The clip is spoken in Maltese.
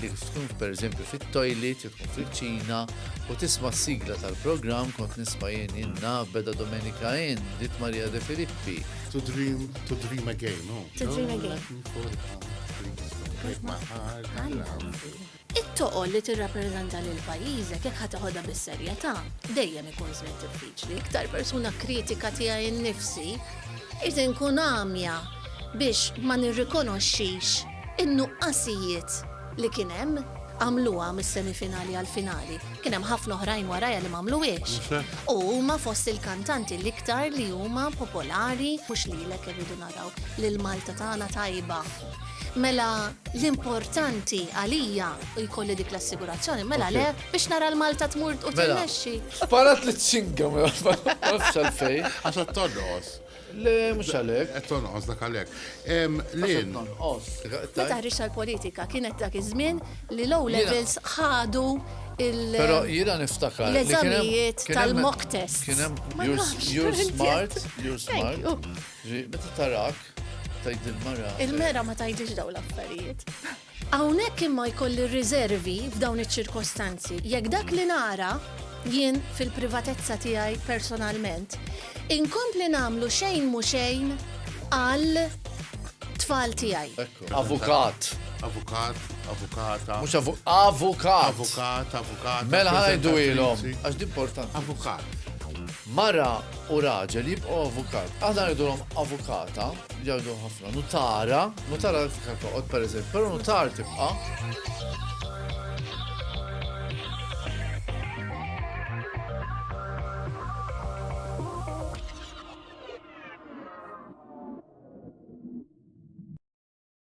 li tkun pereżempju fit-toilet, jew tkun fil-ċina, u tisma' s-sigla tal-programm kont nisma' jien jien naf beda Domenika N, dit Maria De Filippi. To dream, to dream again, no? To dream again. It-toqol li tirrappreżenta lil pajjiżek jekk ħadd iħodha bis-serjetà dejjem ikun żmien diffiċli. Iktar persuna kritika tiegħi nnifsi, irid inkun għamja biex ma nirrikonoxxix In-nuqqasijiet li kien hemm għamluha mis-semifinali għall-finali. Kien hemm ħafna oħrajn warajha li m'għamluhiex. U huma fost il-kantanti l-iktar li huma popolari mhux lilek irridu naraw li l-Malta tagħna tajba. Mela l-importanti għalija u jkolli dik l-assigurazzjoni, mela le biex nara l-Malta tmur u mela. tinnexxi. Sparat li t-singa mela. Għaxa l-fej. Għaxa t-tordos. Le, mhux għalhekk. Qed tonqos dak għalhekk. Lin. Tonqos. Meta ħriġt għall-politika kienet dak iż-żmien li low levels ħadu il- Però jiena niftakar. L-eżamijiet tal-mock test. Kien hemm you're smart, you're smart. Meta tarak, tgħid il-mara. Il-mera ma tgħidix dawn l-affarijiet. Hawnhekk imma jkolli riservi f'dawn iċ-ċirkostanzi. Jekk dak li nara, jien fil-privatezza tiegħi personalment, inkompli nagħmlu xejn mhu xejn għal tfal tiegħi. Avukat. Avukat, avukata. Mhux avu, avukat. Avukat, avukata. Mela ħa ngħidu ilhom, presentatriċi. għax di importanti. Avukat. Mara u raġel jibqgħu avukat. Aħna ngħidulhom avukata. Jgħidu ħafna, nutara, nutara kif toqgħod pereżempju, però nutar tibqa'.